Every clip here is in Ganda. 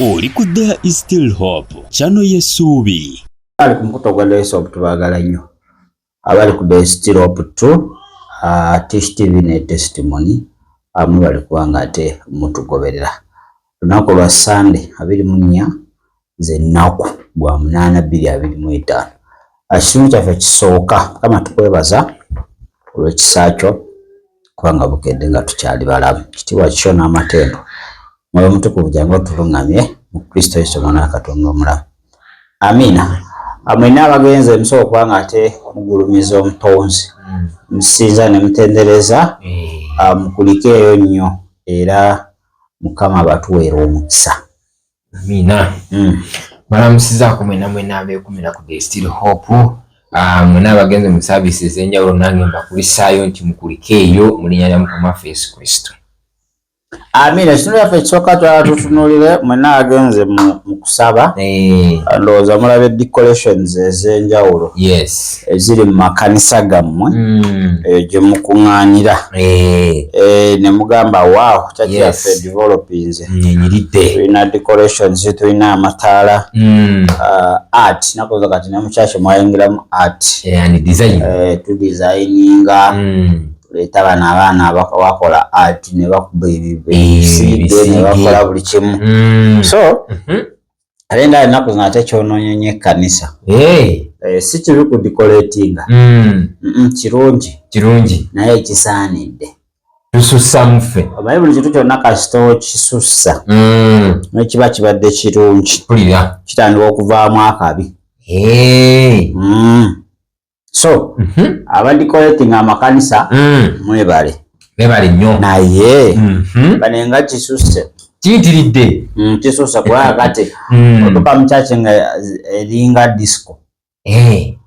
oli ku there is still hope kyano yesuubi ali ku mukuto gwa there is hope tubagala nnyo abali ku there is still hope tu ah, tish tv ne testimony amu ah, bali kubanga ate mutugoberera lunaku lwa sande abiri mu nnya ze nnaku gwa munaana bbiri abiri mu etaano ekitundu kyaffe kisooka kama tukwebaza olw'ekisa kyo kubanga bukedde nga tukyali balamu kitiibwa kikyo n'amateendo mwoyo mutukuvu jangu otuluŋŋamye mu kristo yesu omwana wa katonda omulamu amiina amwena abagenzi emusooka okuba nga ate mugulumiza omutonzi musinza ne mutendereza eh. ah, mukulikeeyo nnyo era mukama abatuweera omukisa Amina. Mm. Balamusizaako mwena mwena abeekumira ku the still hope ah, mwena abagenze mu saavisi ez'enjawulo nange mbakulisaayo nti mukulike eyo mu linnya lya mukama waffe yesu kristo amiina ekitundu yaffe ekisooka twala tutunulire mwena agenze mu kusaba eh. ndowooza mulaba decorations ez'enjawulo yes eziri mu makanisa gammwe mm. eyo gye mukuŋŋaanira eh. eh, ne mugamba waaw kyakyaffe developinze tulina decorations tulina amataala mm. uh, art nakoza kati ne mukyaki mwayingiramu art eh, tudesigninga mm. tuleeta bano abaana bakola art ne bakuba ebibiside ne bakola buli kimu so mm-hmm. ate nga enaku zino ate kyononyenya ekkanisa eh, si kibi ku dikoletinga hmm. kirungi kirungi naye kisaanidde tusussamu ffe omanyi buli kintu kyonna kasita okisussa hmm. nekiba kibadde kirungi kitandika okuvaamu akabi eh. hmm. so mm -hmm. abandi collecting amakanisa mm. mwebale nebale nyo naye mm -hmm. banenga kisuse kiyitiridde mm, kisuse kulaba kati mm. otuka mukyaki nga eringa disco hey. Eh.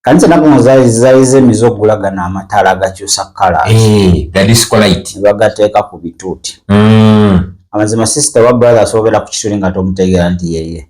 kanisa nakuno zayize emize okugulagana amataala gakyusa kala hey. Eh, gadiscolite bagateeka ku bituuti mm. amazima sister wa brother asobera ku kituli nga tomutegeera nti yeye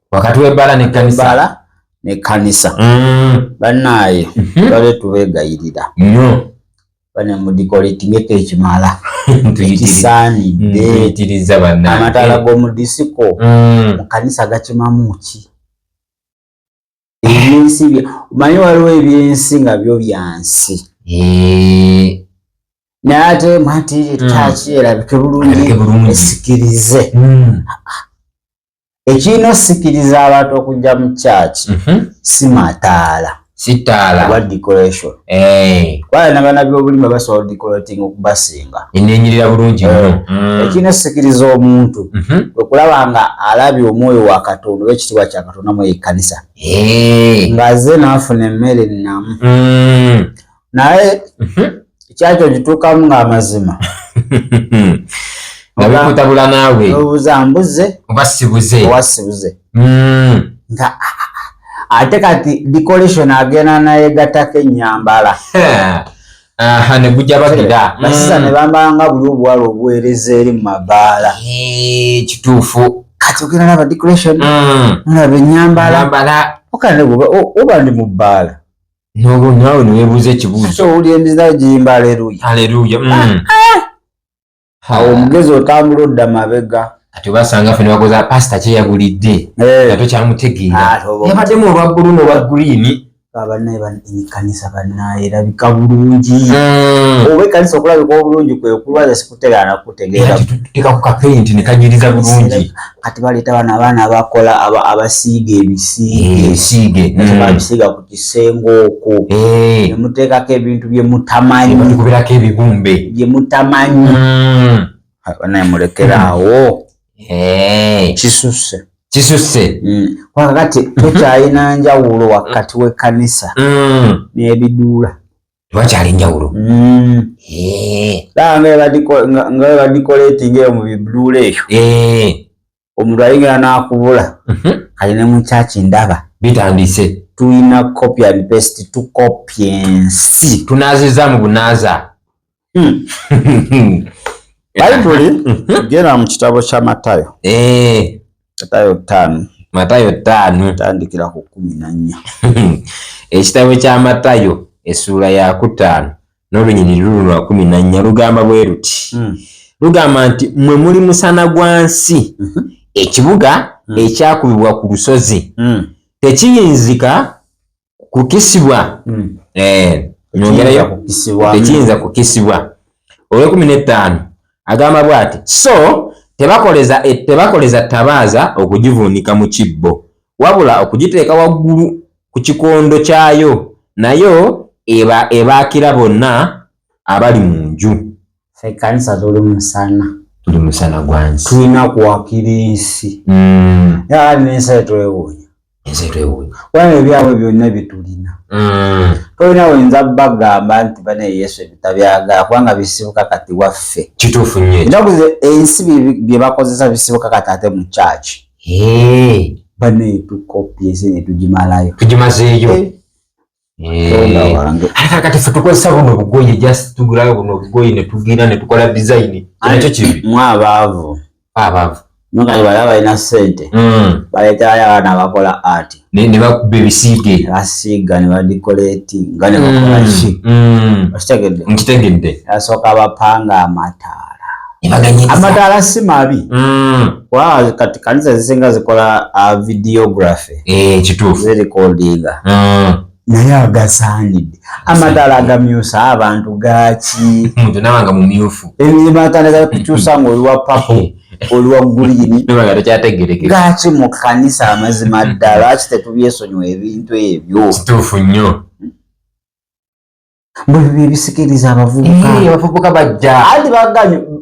wakati w'ebbaala n'ekkanisa ebbaala n'ekkanisa Mm, bannaaye mhm. tubadde tubeegayirira nnyo bane mudikolitingeko ekimala Tuyitiri- ekisaanidde tuyitiriza bannange. amataala g'omu disiko Mm, mu kanisa gakimamu ki ebyensi bya- omanyi waliwo ebyensi nga byo byansi eh, naye ate mwati ekyaki erabike bulungi erabike bulungi. esikirize mm, ekirina osikiriza abantu okujja mu kyaki mhm. si mataala sitaala oba decoration eh. kubanga nabana byobulima basobola decorating okubasinga enenyirira bulungi eh. nnyo mm. ekirina osikiriza omuntu mhm. okulaba nga alabye omwoyo wa katonda oba ekitiibwa kya katonda mu ekkanisa eh. ng'aze n'afuna emmere nnamu mm. naye mhm. ekyakyo gituukamu ng'amazima nabikutabula naawe obuza mbuze oba sibuze owa sibuze hmm. nga ate kati decoration agenda naye gatako enyambala aha ne gujja bagira basiza hmm. ne bambala nga buli obuwala obuweereza eri mu mabaala kituufu kati ogenda naba decoration hmm. mulaba enyambala oba ndi mu bbaala nobo nawe newebuuza ekibuuzo owulira emizina giyimba aleluya aleluya mm. ah, ah. awo omugezi otambula odda mabega ati obasanga fe nebakoza pasita kyeyagulidde eh. nga tokyamutegeera ah, yabaddemu olwa bbulu nolwa guliini abanaye banikanisa banaye erabika bulungi mm. oba ekanisa okulabika obulungi kwekulwaza kutegera na kutegera tutika ku kapenti ne kajiriza bulungi kati baleta bana abana abakola aba abasiige ebisiige eh, ebisiige mm. ne babisiga ku kisengo okwo eh. ne muteka ke bintu bye mutamanyi ne kubira ke bigumbe bye mutamanyi mm. abana mulekera mm. awo eh kisuse kisuse mm. kwa kati mm-hmm. tukyayina njawulo wakati we kanisa mm. ne bidula tewakyali njawulo mm. eh. nga webadikoletinga eyo mu bibluula eyo eh. omuntu ayingira n'akubula mhm. kati ne mukyaki ndaba bitandise tulina copy and paste tukopya ensi tunaziza mu bunaza hmm. bayibuli mhm. genda mu kitabo kya matayo eh. matayo ttaano matayo ttaano tandikira ku kkumi na nnya ekitabo kya matayo essuula yakutaano n'olunyiriri lulu lwa kumi na nnya lugamba bwe luti hmm. lugamba nti mwe muli musana gwa nsi mhm. ekibuga hmm. ekyakubibwa ku lusozi hmm. tekiyinzika kukisibwa hmm. eh, nyongerayo tekiyinza kukisibwa olwekumi n'ettaano agamba bwati so tebakoleza e, tebakoleza tabaaza okugivuunika mu kibbo wabula okugiteeka waggulu ku kikondo kyayo nayo ebaakira bonna abali mu nju fe kanisa tuli musana tuli musana gwansi tulina kuwakira ensi mm. yaa nensi etwewunya ensi etwewunya kubanga ebyabwe byonna bitulina mm. tolina oyinza bagamba nti bane yesu ebitabyagala kubanga bisibuka kati waffe kituufu nyo enaku ensi byebakozesa bisibuka kati ate mu kyaki bane tukopyeze netugimalayo tugimazeeyo eh. kati fe tukozesa buno obugoye just tugulayo buno obugoye netugira netukola design anakyo kibi mwe abaavu abaavu nokati bala balina sente hmm. baleetayo abaana abakola art nebakuba ebisiige basiiga nebadikoleti nga nebakolaki hmm. hmm. okitegedde nkitegedde asooka bapanga amata amadaala si mabi mm. wa kati kanisa zisinga zikola uh, videography eh, kituufu zirikodinga mm. naye agasaanidde amadaala agamyusa abantu gaki muntu nawe nga mumyufu ebimatandika kukyusa nga oliwa papo eh. oluwa guliini gaki mu kanisa amazima ddala ki tetubyesonyiwa ebintu ebyo kituufu nnyo mbu ebyo byebisikiriza abavubuka abavubuka bajja anti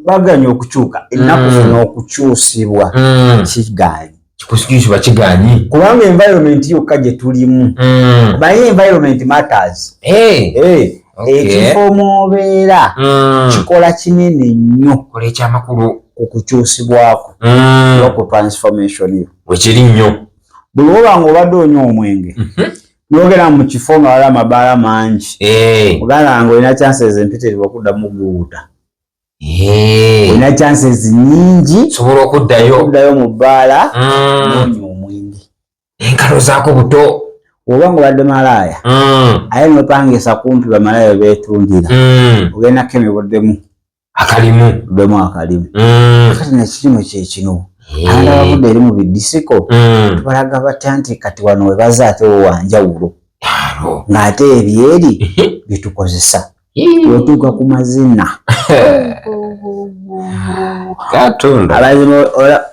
baganye okukyuka ennaku mm. zino okukyusibwa mm. kiganyi kikusikiriza kiganyi kubanga environment yokka gye tulimu mm. baye environment matters eh. Eh. ekifo mubeera kikola kinene nnyo kola ekyamakulu ku kukyusibwako noku transformation yo wekiri nnyo buli woba nga obadde onywa omwenge mhm. nogera mu kifo nga wala amabaala mangi eh. ogala nga olina chances empitirivu okuddamu guwuta eh. olina chances nyingi sobola okuddayo okuddayo mu bbaala mm. noonya omwenge enkalo zaako buto oba nga obadde malaaya mm. aye nopangisa kumpi bamalaaya betundira mm. ogendako emibuddemu akalimu bemu akalimu mm. kati nekikino kyekino eh. abaana bavudde eri mu bidisiko mm. tubalaga batya nti kati wano webaza ate wowanjawulo ng'ate ebyeri byetukozesa wetuuka ku mazina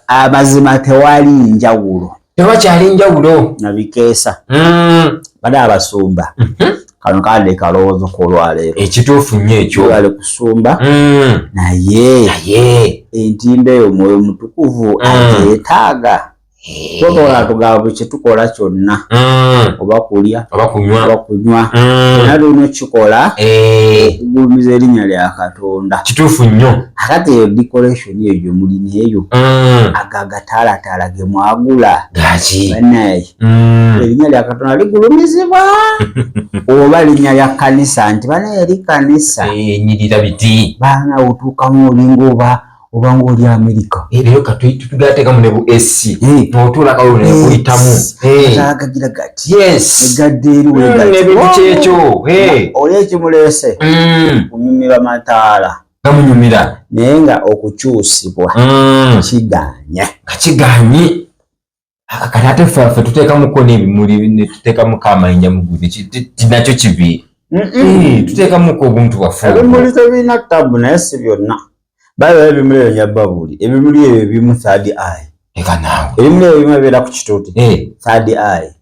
amazima tewali njawulo tewakyali njawulo nabikeesa mm. bada abasumba mm -hmm. kano kade kalowoozo kolwaleero ekituufu nnyo ekyo bali kusumba mm. naye naye entimba eyo mwoyo mutukuvu mm. agyetaaga eh. totola tugaba bwe kyetukola kyonna mm. oba kulya oba kunywa mm. nali olina okukikola eh. okugulumiza erinnya lya katonda kituufu nnyo akati eyo decoration toni eyo gyemulina eyo mm. ago agataalaataala ge mwagula banaye mm. erinnya lya katonda ligulumizibwa oba linnya lya kanisa nti banaye eri kanisa enyirira biti baana otuukamu olinga oba obanga oli amerika ebyo katutugatekamu ne bu ac notulakawo nekuyitamu agagira gati egadde eri wegaebikyekyo oli ekimulese kunyumirwa mataala gamunyumira naye nga okukyusibwa mm. kiganye kakiganye kati ate ffe tuteekamuko n'ebimuli netuteekamuko amayinja mugudi kinakyo kibi eh, tuteekamuko obuntu bwaffe ebimuli tebirina tabu naye si byonna baiba ebimuli ebyo nyababuli ebimuli ebyo ebimu third eye eka naawe ebimuli ebyo bimu ebeera ku kituuti eh. third eye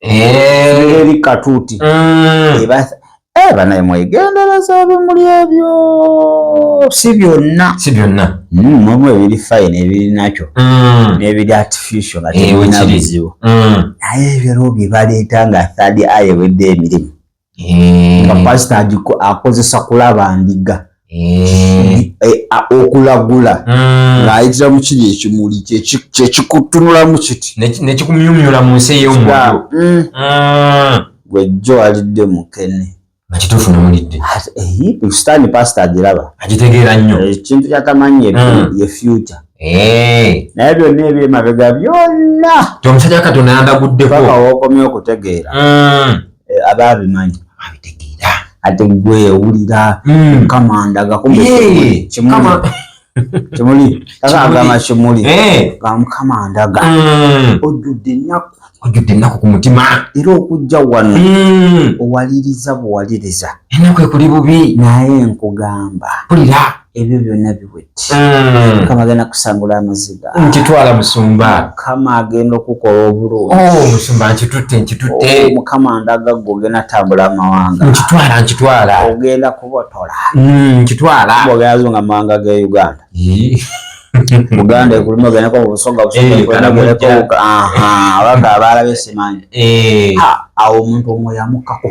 eh. eri katuuti mm. eh, banaye mwegendereza ebimuli ebyo si byonna si byonna mm, mulimu ebiri fine ebiri nakyo mm. n'ebiri artificial nga tebirina bizibu naye ebiro bye baleeta nga third eye ewedde emirimu eh. nga pasita akozesa kulaba ndiga eh. eh, okulagula hmm. ng'ayitira mu kiri ekimuli kyekikutunulamu kiti nekikumyumyula mu nsi ey'omwoyo hmm. hmm. gwejjo alidde mukene akituufu nomulidde sitaani pasita agiraba agitegeera nnyo ekintu kyatamanyi ye future Eh. naye byonna ebyemabega byonna omusajja katonda yandaguddeko paka wokomye okutegeera mm. eh, aba abimanyi abitegeera ate gwe owulira hmm. kamandaga kimuli agamba kimuli gamukama eh. ndaga hmm. ojjudde ennaku ojjudde ennaku ku mutima era okujja wano hmm. owaliriza buwaliriza ennaku ekuli bubi naye nkugamba kulira ebyo byonna biwedde mm. mukama agenda kusangula amaziga nkitwala musumba mukama agenda okukola obulungi oh, musumba nkitutte nkitutte oh, mukama ndaga gwe ogenda tambula amawanga nkitwala nkitwala ogenda kubotola mm, nkitwala ogenazo nga mawanga ge uganda buganda ekuluma ogendako mubusoga busogaabalabe eh, eh, simanyi eh. awo omuntu omwoyo amukako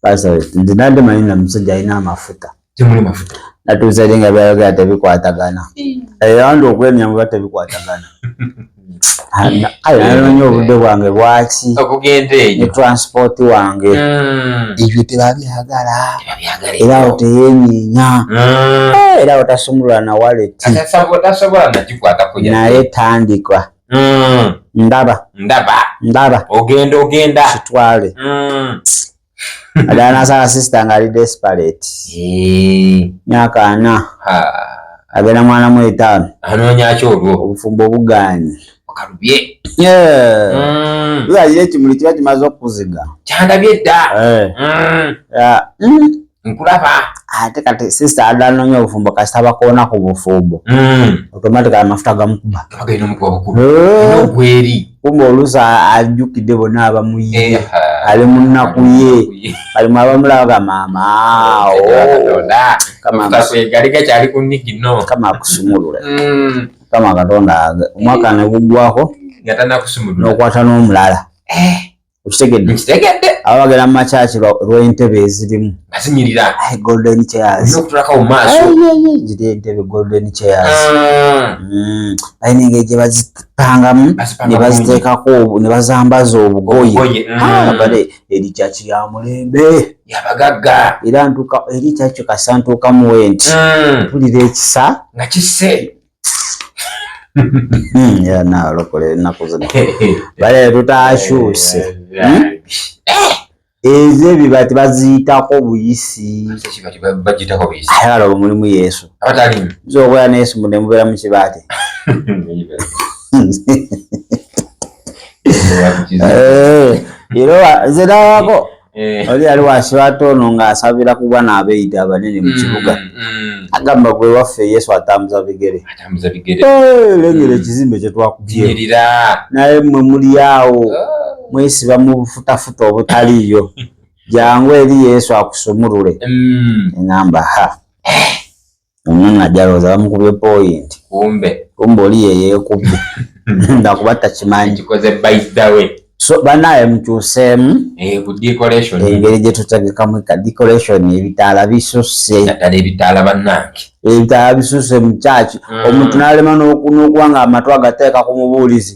Pastor, nze nandi manyi na musajja alina amafuta. Temuli mafuta. Natuusa eri nga byayogera tebikwatagana. Eyawanda okwemya muba tebikwatagana. Ayo nanonye obudde bwange bwaki okugenda eyo ne transport wange hmm. ebyo tebabyagala era awo teyenyinya hmm. eh, era otasumulula na waleti naye tandika mm. ndaba ndaba ndaba ogenda ogenda kitwale mm. adala nasala sister nga ali desperate eh. myaka ana agenda mwana mu etaano anoonyaki olwo obufumbo obugaanyi okalubye mm. lwalira ekimuli kiba kimaze okukuziga kyandabye dda eh. mm. nkulaba ate kati sister adala nonya obufumbo kasita bakoona ku bufumbo mm. automatically amafuta gamukuba eh. kumbe oluusi ajjukidde bona abamuye eh, ali munnaku ye alimu abamulaba gamaama kama akusumulule mm. kama katonda omwaka negugwako nokwata n'omulala eh. okitegedde nkitegedde aba bagera mu makyaki lw'entebe ezirimu nga zinyirira golden chairs okutulaka mu maaso ziri entebe golden chairs ah. mm. balina engeri gye bazipangamu ne baziteekako ne bazambaza obugoye mm. ah, bale eri kyaki ya mulembe yabagagga era ntuka eri kyakyo kasa ntuukamu wenti mm. tulira ekisa nga kisse ya nalokole ennaku zino bale tutakyuse hmm? ezo ebiba tebaziyitako buyisi ayala olwo mulimu yesu zokola neyesu mbu nemubeera mukibaate eh, era nze nawako Eh. oli yali wasiwata ono ng'asabira ku bwana abeeyita abanene mu mm, kibuga mm. agamba gwe waffe yesu atambuza bigere eh, lengera mm. ekizimbe kye twakubyerira naye mwe muli awo oh. mwesiba mu bufutafuta obutaliiyo jangu eri yesu akusumulule eŋamba ha Omwana ajja alowooza bamukubye point. Kumbe. Kumbe oli ye yeekubye. Nda kuba takimanyi. Kikoze by the way. So banaye mukyuseemu. Eh ku decoration. Engeri gye tutegekamu ka decoration ebitaala bisusse. Naddala ebitaala bannange. Ebitaala bisusse mu church. Mm. Omuntu n'alema n'okuba nga amatu agateeka ku mubuulizi.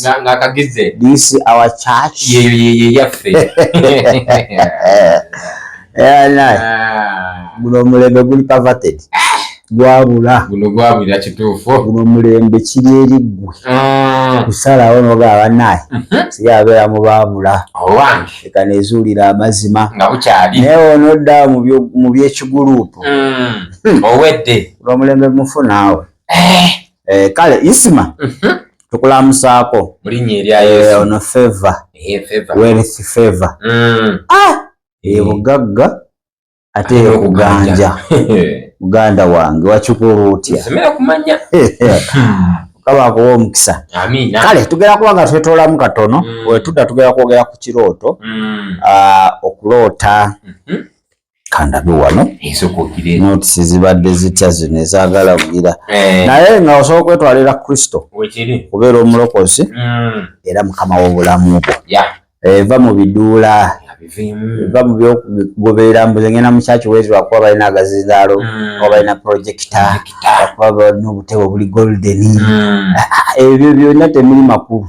nga nga kagize this our church ye ye ye ye yafe eh na mulo mulebe guli perverted gwabula guno gwabulira kituufu guno mulembe kiri eri ggwe mm. kusalawo noga abanaye mhm. siyabeera mu baabula eka nezuulira amazima nga bukyali naye onodda mu byekiguluupu mm. hmm. owedde guno mulembe mufu naawe eh. eh, kale isima mhm. tukulamusaako eh, ono favor wealth favor mm. ah! eyo bugagga ate ekuganja muganda wange wakikola otya kaba akuwa omukisa kale tugera kuba nga twetolamu katono mm. wetudda tugera kwogera ku kirooto mm. ah, okuloota mm-hmm. kandabe wano notisi zibadde zitya zino ezagala kugira eh. naye nga osobola okwetwalira kristo kubeera omulokozi hmm. era mukama w'obulamu bwo eva mu biduula va mu byokugoberera mbuze ngenda mu kyaki wezi wakuba balina agazindaalo hmm. oba balina projekita akuba balina obutebe obuli goldeni hmm. ah, ah, ebyo byonna temuli makulu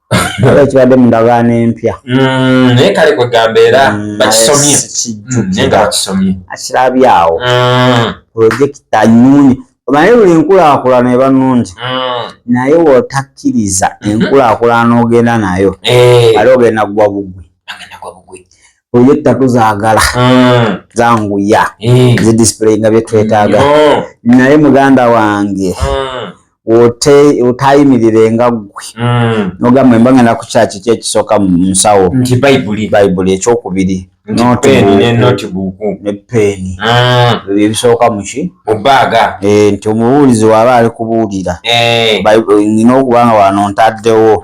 Kale kibadde mu ndagaano empya. Mm, naye kale kwegamba era mm, bakisomye mm, naye nga bakisomye akirabye awo pulojekita nyungi omanyi buli nkulaakulana eba nungi naye wotakkiriza mhm. enkulaakulana ogenda nayo eh. ali ogenda gwa bugwi oyo ettatu zagala hmm. zanguya hmm. zi display nga byetwetaaga hmm. naye muganda wange otayimirire nga gwe nogamba emba ngenda ku kyaki ki ekisooka mu nsawo nti bayibuli bayibuli ekyokubiri ne peeni ebisooka muki mubaaga eh, nti omubuulizi waba ali kubuulira eh. nina okubanga wano ntaddewo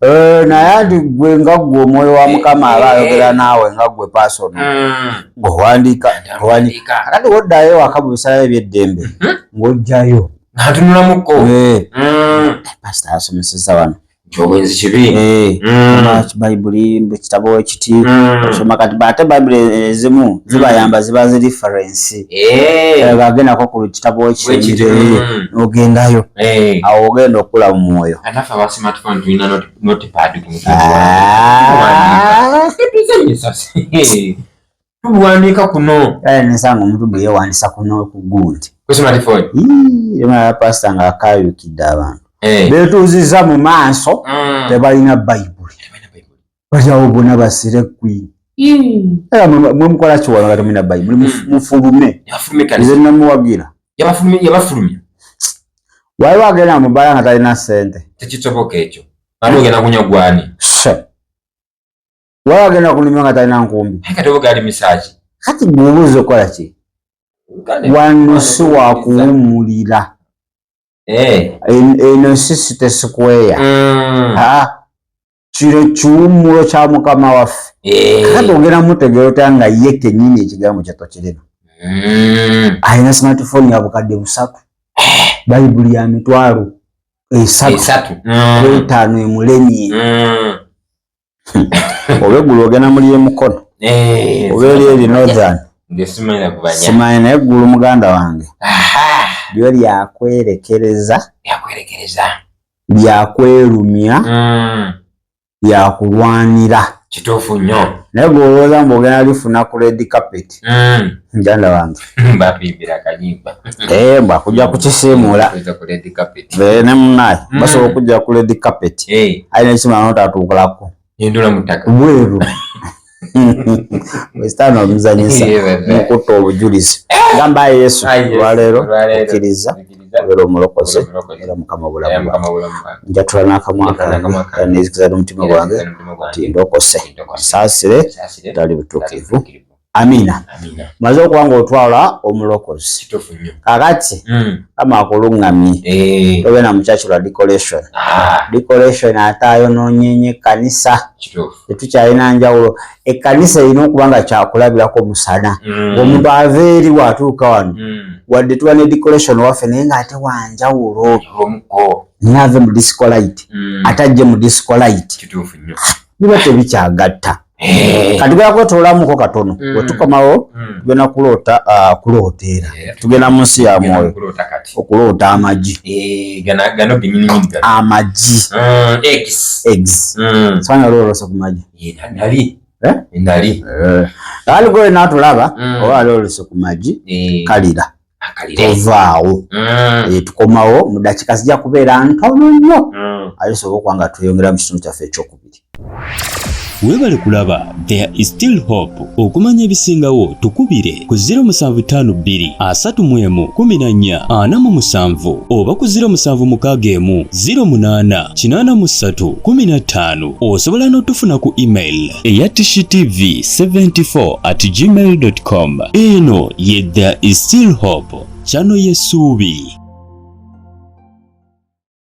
Eh, naye ati gwe nga gwe omwoyo wa mukama aba eh, eh. ayogera naawe nga gwe pasono hmm. ngaowandiika owandiika akati woddayo ewaka mu bisalayo ebyeddembe hmm? ng'ojjayo atunulamuko hmm. pasita asomeseza wano kyobwenzi kibi bayibuli ekitabo ekiti osoma kati baate bayibuli ezimu zibayamba ziba zi referensi Eh. Eh, agendako ku kitabo ekisembire mm. ogendayo eh. awo ogenda okukula mu mwoyo ah. tuwandiika kuno nsanga omuntu bwe yewandisa kuno kugundi pasita nga akayukidde abantu betuuziza mu maaso mm. tebalina bayibuli bajawo bona basire queen era mwe mukola kiwala nga temulina bayibuli hmm. mufulume nze namuwagira yabafulumya waliwo agenda mubala nga talina sente tekisoboka ekyo ani ogenda kunya gwani waliwo agenda kunumya nga talina nkumbi katobogaali misaki kati gweobuuza okukola ki wano si wakuwumulira eh. eno si sitesikweya hmm. kino kiwummulo kya mukama waffe eh. kakati ogenda mutegeera otya nga ye kenyini ekigambo kyatokirina hmm. alina smartphone ya bukadde busatu eh. bayibuli ya mitwalo esatu hmm. etaano emulemye hmm. obegulu ogenda muli emukono eh, obeeri eri northern simanyi naye eggulu muganda wange lyo lyakwerekereza lyakwerekereza byakwerumya mm. byakulwanira kituufu nnyo naye gwe olowooza mbu ogenda lifuna ku red carpet mm. njanda wange bapimbira kayimba eh, mbu akujja kukisiimuula eh, ne munaye mm. basobola okujja ku red carpet eh. alina ekimala notatuukulako hindula mutaka mweru wesitani omuzanyisa mukutta obujulizi gamba ayi yesu olwaleero okkiriza obeera omulokozi era mukama obulamu njatula n'akamwa kange nezikiza n'omutima gwange ti ndokose saasire tali butuukirivu Amina. Amina. Maze okuba ng'otwala omulokozi. Kakati, mm. kama akulungamye. Hey. Eh. Obe na muchachi lwa decoration. Ah. Decoration ata ayononyenye kanisa. Tetukyalina njawulo. Ekkanisa erina okuba nga kyakulabirako musana. Mm. Omuntu ava eri watuuka wano. Mm. Wadde tuba ne decoration waffe naye ng'ate wanjawulo. Naye ave mu disco light. Mm. Ate ajje mu disco light. Biba tebikyagatta. Eh. kati tugenda kwetolamuko katono mm. wetukomawo mm. tugenda kuloota ah, kuloota era eh. tugenda mu nsi ya mwoyo okuloota amagi eh, amagi mm, sanya olwolose ku magi ali gwe natulaba oba ali olose ku magi kalira tovaawo mm. eh, tukomawo mu dakika zijja kubeera ntono nnyo mm. ayo sobola okuba nga tweyongera mu kitundu kyaffe ekyokubiri webale kulaba there is still hope okumanya ebisingawo tukubire ku 07523114 oba ku 0761088315 osobola n'otufuna ku email eya tv 74 at gmail com eno ye the still hope chano yesuubi